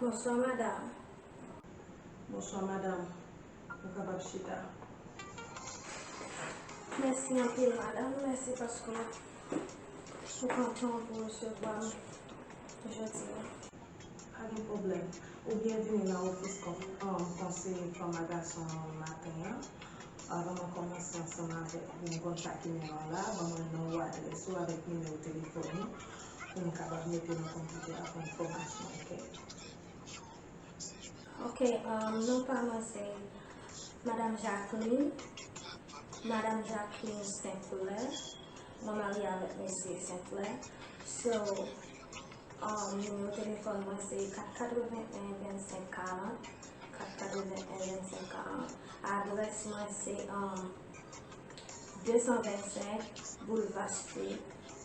Bonswa madam. Bonswa madam. Ou kapab chita. Mèsi anpil madam. Mèsi paske ou pran tan w pou w resevwa m jodi a. Pa gen pwoblèm. Ou byenvini nan ofis konseye fanm a gason an maten an. Avan mwen kòmanse ansanm avèk ou, mwen konn sa ki mennen w la a. Ban mwen non ou, adrès ou avèk nimewo telefòn ou. pou m kapab mete nan konpitè a pou m fòmasyon ok. Ok um non pa mwen se madam Jacqueline madam Jacqueline Sinclair mwen marye avèk mesye Sinclair so um nimewo telefòn mwen se 4812540 4812540 adrès mwen se um 225 boulevard street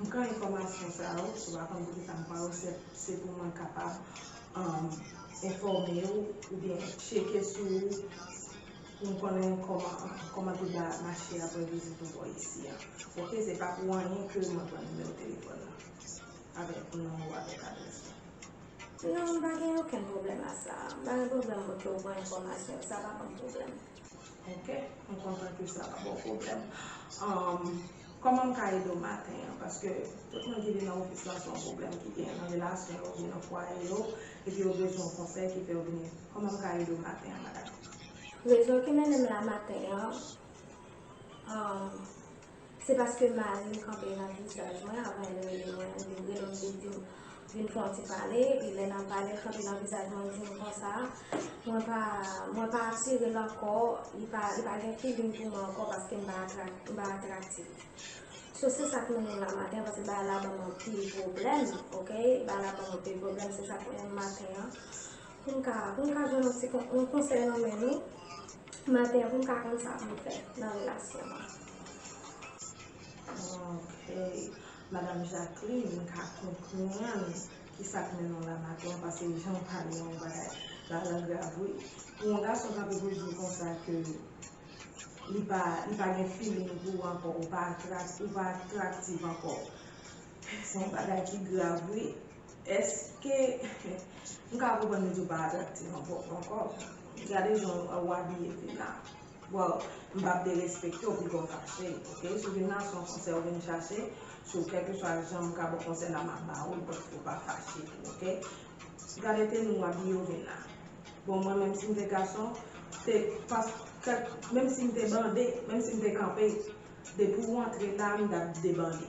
M pran enfòmasyon sa yo, ou pa konn kote sa m pran yo, se pou mwen kapab enfòme ou oubyen tcheke sou ou pou m konnen kòman tout bagay ap mache aprè vizit ou bò isi a. Ok, se pa pou anyen ke mwen pran nimewo telefòn nan avèk non ou avèk adrès ou. Non, m pa gen okenn pwoblèm a sa. M pa gen pwoblèm pou ke ou pran enfòmasyon yo, sa pa banm pwoblèm. Ok m kontan ke sa pa baw pwoblèm um kòman m ka ede w maten an paske tout moun ki vin nan ofis la se yon pwoblèm ki genyen nan relasyon yo oubyen nan fwaye yo epi yo bezwen yon konsèy ki fè yo vini kòman m ka ede w maten an madam. Rezon ki mennen m la maten an um. Se paske mari m kanpe nan visaj mwen avan l rele mwen. Li te rele m, li te di m, Vin fè yon ti pale. Epi lè n ap pale, l kanpe nan vizaj mwen, l di m konsa, Mwen pa, mwen pa atire l ankò. Li pa, li pa gen feeling pou mwen ankò paske m pa atrak, m pa atraktif. So, se sa k mennen m la maten paske bagay la ban m anpil pwoblèm, okay. Bagay la ban m anpil pwoblèm. Se sa k mennen m maten an. Pou m ka pou m ka jwenn yon ti yon konsèy nan men nou maten an pou m ka konn sa pou m fè nan relasyon an. Ok madam Jacqueline m ka konprann kisa k mennen w la maten an pase jan w pale an bagay la la grav wi pou yon gason kanpe pou l di w konsa ke li pa li pa gen feeling pou w ankò ou pa atrakt ou pa aktraktiv ankò Se yon bagay ki grav wi. Eske m ka konprann li di w pa atraktif ankò? Gade jan ou abiye Vina. Bon, m pap derespekte w pito w fache. Ok, sou Vina se yon konsèy ou vin chache, sou kèlkeswa jan m ka ba w konsèy la m ap ba w li paske w pa fache tou ok. Gade teni ou abiye w Vina. Bon mwen menm si m te gason, menm si m te bande, menm si m te kanpe, depi w antre la m t ap debande.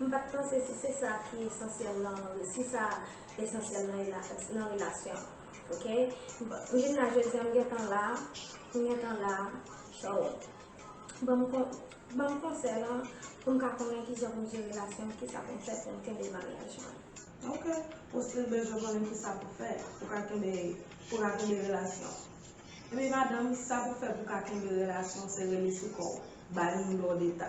M pat panse si se sa ki esansyèl lan si sa esansyèl lan nan relasyon ok m vin la jodi an m gentan la m gentan la so banm banm konsèy lan poum ka konnen kijan poum jere relasyon m kisa poum fè poum kenbe maryaj mwen ok ou stil bezwen konnen kisa pou fè pou ka kenbe pou ka kenbe relasyon ebyen madanm sa pou fè pou ka kenbe relasyon se rele sou kòw bay moun dòdeta.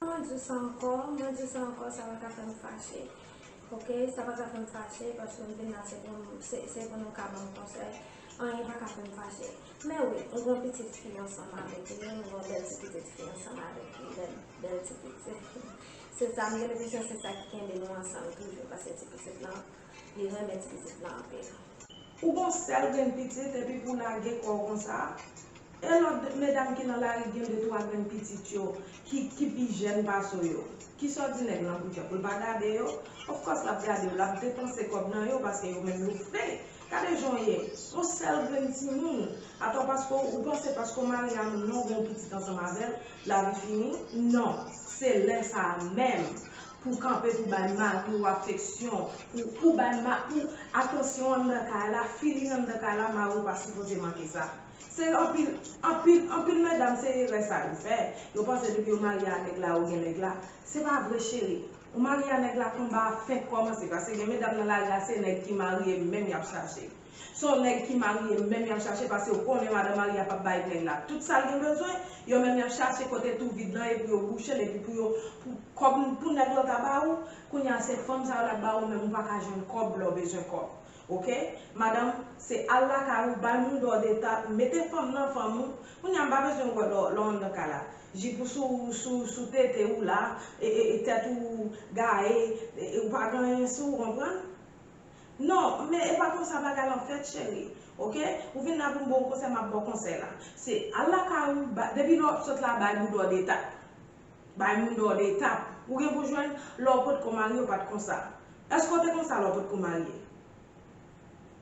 Mwen diw sa ankò, mwen diw sa ankò sa pa ka fèm fache ok, sa pa ka fèm fache paske m vin la se pou m se pou nou ka banm konsèy anyen pa ka fèm fache men wi m gon pitit fi ansanm avèk li wi m gon bèl ti pitit fi ansanm avèk li bèl bèl ti pitit se sa m gen enpresyon se sa ki kenbe nou ansanm toujou paske ti pitit lan Li renmen ti pitit lan anpil. Ou gon sèl grenn pitit epi pou lage kòw konsa e lòt medam ki nan lari gen de twa grenn pitit yo ki ki pi jèn pase w yo kisa w di nèg lan pou fè pou l pa gade yo of course lap gade yo lap depanse kòb nan yo paske yo menm yo fre gade jan w ye yon sèl grenn timoun atò paske w ou panse paske w marye a moun non ou gen yon pitit ansanm avèl lavi fini non se lè sa menm Pou kanpe pou bay mari w afeksyon, pou bay mari w atansyon anndan kay la, feeling anndan kay la, mari w pa sipoze manke sa. Se anpil, anpil, anpil medam se erè sa yo fè, yo panse depi yo marye a nèg la ou gen nèg la. Se pa vre cheri. Ou marye a nèg la konba a fenk kòmanse paske gen medam nan lari a se nèg ki marye menm y ap chache. Son nèg ki marye menm yap chache pasew konnen madan marye a pap bay nèg la tout sal gen bezwen, yo menm yap chache kote tou vid lan e pou yo bouchel epi pou yo pou kòb pou nèg lò ta ba ou, kounye a se fanm sa yo lap ba ou menm ou paka jwenn kòb lèw bezwen kòb ok madanm se al lakay ou bay moun dò deta mete fanm nan fanm ou, kounye a m pa bezwen wè lò lò anndan kay la jip ou sou sou sou tete ou la e e tèt ou gaye e ou pa gen anyen sou ou konprann. Non, men e pa konsa bagay lan fèt cheri ok, ou vin la pou m ba w konsèy m ap ba w konsèy la, se al lakay ou ba, depi lè w ap sot la bay moun dò detap, bay moun dò detap, ou gen pou w jwenn lè w potko marye w pa t konsa, èske w te konsa lè w potko marye?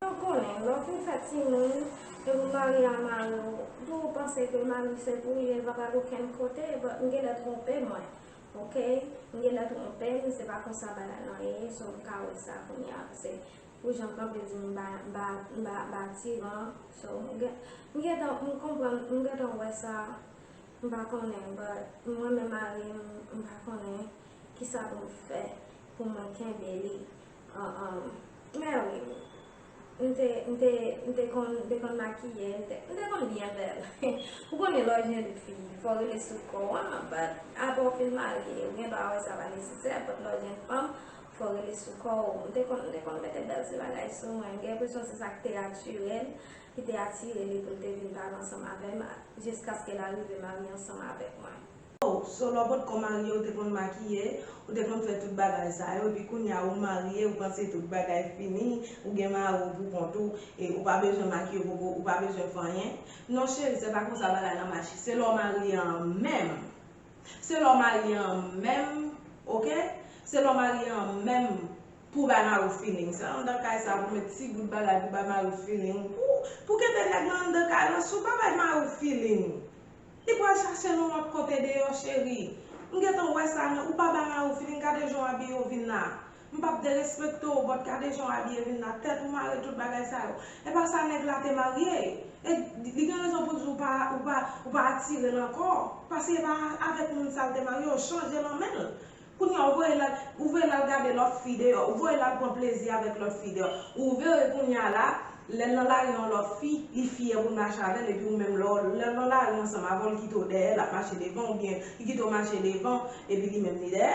Eske w konnen lè w fin fè timoun epi w marye a mari w, pou w panse ke mari w se pou li, li pa pral okenn kote, but m genlè twonpe mwen, Ok m gentan tronpe m se pa konsa bagay lan ye so m ka wè sa kounya se pou jan kanpe di m ba tiran so m gentan m konprann m gentan wè sa m pa konnen but mwen menm mari m m pa konnen kisa pou m fè pou mwen kenbe li mèwi. M te, m te, m te konn, m te konn makiye, m te, m te konn byen bèl. Ou konnen lè w jenn fi, fò w rete sou kò w an, but apre w fin marye, ou gen dwa wè sa pa nesesè, but lè w jenn fanm, fò w rete sou kò w. M te konn, m te konn mete bèl ti bagay sou mwen. M gen enpresyon se sa ki te atire l, ki te atire li pou l te vin pale ansanm avè m, jiskaske l arive marye ansanm avèk mwen. Oh Zolobot kon marye ou te konn makiye, ou te konn fè tout bagay sa yo epi kounya ou marye ou panse tout bagay fini, ou gen mari w pou kont ou e ou pa bezwen makiye ou poko ou pa bezwen fè anyen. Non cheri se pa konsa bagay lan mache se lè w marye an menm se lè w marye an menm ok se lè w marye an menm pou w bay mari w feeling se anndan kay sa pou met ti gout bagay pou bay mari w feeling pou pou kenbe nèg lan anndan kay lan si w pa bay mari w feeling Li pral chache nou lòt kote deyò cheri. M gentan wè sa nan ou pa bala ou fini gade jan w abiye w vin la. M pap derespekte w but gade jan w abiye vin la tèt ou mare tout bagay sa yo. Epa sa nèg la te marye e li gen rezon pou l di w pa ou pa ou pa atire l ankò pase epa avèk moun sa l te marye yo chanje nan men l. Kounya ou voye lal ou voye lal gade lòt fi deyò ou voye lal pran plezi avèk lòt fi deyò ou vere kounya la lèl nan lari yon lòt fi li fyè poul mache avèl epi ou menm lèw lèw nan lari ansanm avèw li kitew dèyè lap mache devan oubyen li kitew mache devan epi li menm li dèyè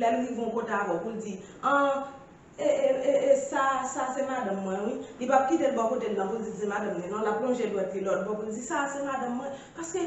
lèl rive yon kote avèw poul di an E e e e sa sa se madanm mwen wi. Li pap kite l bò kote l lan pou l di se madanm li non, lap lonje dwèt li lòt bò pou l di sa a se madanm mwen. Paske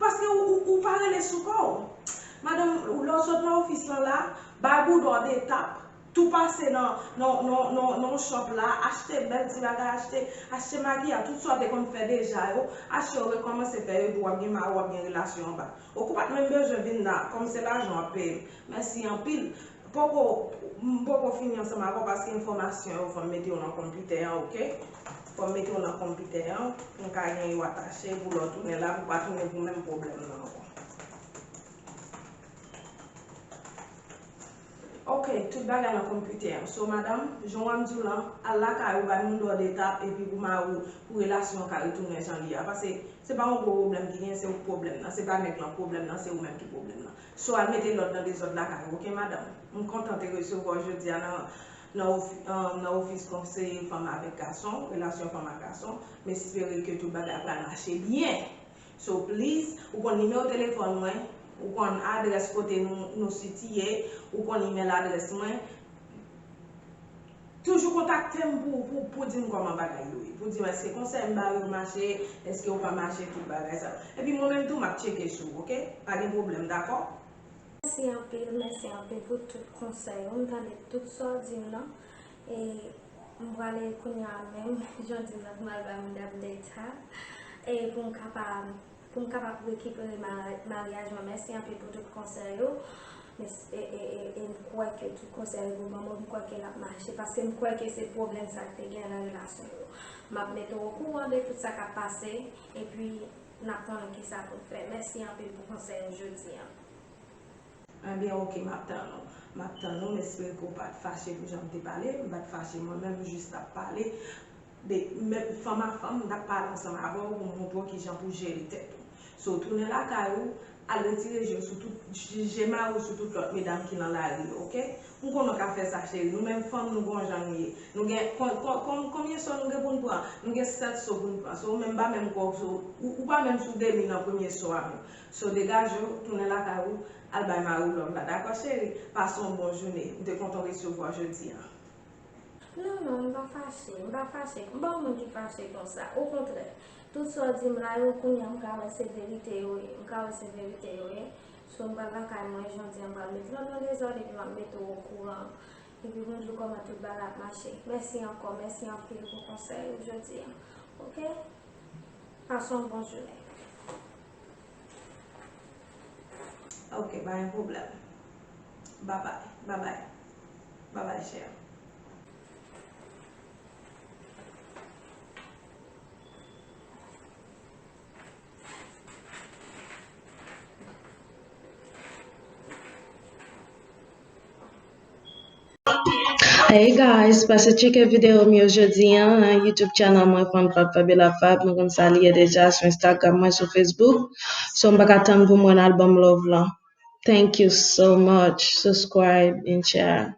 paske ou ou pa rele sou kò w. Madanm, lè w sot nan ofis lan la, bay boudon an 2 tap, tou pase nan nan nan nan nan shop la, achte bèl ti bagay, achte achte makiyaj, tout sa w te konn fè deja yo, achte yo rekòmanse fè yo epi w ap gen mari w ap gen relasyon anba. Ok ou pat menm bezwen vin la, kòm se lajan w ap peye m. Mèsi anpil. Poko m poko fini ansanm avèw paske enfòmasyon yo fòm mete yo nan konpitè an ok fòm mete yo nan konpitè an pou m ka gen yo atache pou lè w tounen la pou pa tounen pou menm pwoblèm nan ankò ok tout bagay nan konpitè an so madam jan wap m diw lan al lakay ou bay moun lòd etap epi pou mariw pou relasyon an ka retounen jan li a pase se pa yon gwo pwoblèm ki gen se ou k pwoblèm nan se pa nèg lan k pwoblèm nan se ou menm ki pwoblèm nan. So al mete lòd nan dezòd lakay ou ok madanm. M kontan te resevwa w jodi a nan ofis konseye fanm avèk gason, relasyon fanm ak gason. M espere ke tout bagay pral mache byen. So please, ou konn nimewo telefòn mwen, ou konn adrès kote nou sitiye, ou konn email adrès mwen. Toujou kontakte m pou pou di m kòman bagay yo ye. Pou di m èske konsèy m ba yo mache, èske yo pa mache tout bagay sa yo. Epi mwen menm tou m ap tcheke sou ou ok. Pa gen pwoblèm dakò? Mèsi anpil, mèsi anpil pou tout konsèy ou. M tande tout sa w di m nan. E m prale kounya menm jan w di m nan pou m al bay moun update sa. E pou m ka pa. Poum kapab rekipere maryaj mwen mèsi anpil pou tout konsèy ou e m kwè ke tout konsèy ou banm yo m kwè ke lap mache paske m kwè ke se pwoblèm sa ki te gen nan relasyon yo map mete w okouran de tout sa kap pase epi nap konnen kisa poun fè mèsi anpil pou konsèy ou jodi an. Ebyen ok map tann ou. Map tann ou m espere ke w pat fache pou janm te pale, m pat fache mwen menm m jis tap pale. De men fanm a fanm m tap pale ansanm avè w pou m montre w kijan pou w jere tèt ou. So tounen lakay ou, al retire je w sou tout, je mari w sou tout lòt medam ki nan lari yo ok. M konnen w ka fè sa cheri, nou menm fanm nou gon jan nou ye. Nou gen, kon, kon, kon, konbyen so nou gen pou n pran? Nou gen 7 so pou n pran. So ou menm m pa menm kwè w so, ou, ou pa menm sou demi nan premye so a menm. So degaje w, tounen lakay ou, al bay mari w love la dakò cheri? Pase yon bon joune. M te kontan w resevwa w jodi a. Non non, m pa fache, m pa fache, m pa yon moun ki fache konsa, okontrè, tout sa w di m la yo kounya m ka wè se verite yo ye, m ka wè se verite yo ye, so m pral lakay mwen jodi an m pral mete tonton Dezòd epi m ap mete w okouran, epi pou m di w kòman tout bagay ap mache, mèsi ankò, mèsi anpil pou konsèy ou jodi an, ok, pase yon bon jounen. Ok pa gen problem. Babay. Babay. Babay chère. Hey guys, pase tcheke video m yo jodi an nan YouTube channel mwen Femme Fab Fabiola Fab, nou konn sa li ye deja sou Instagram mwen sou Facebook, so m paka tann pou mwen al banm love lan. Thank you so much, subscribe and share.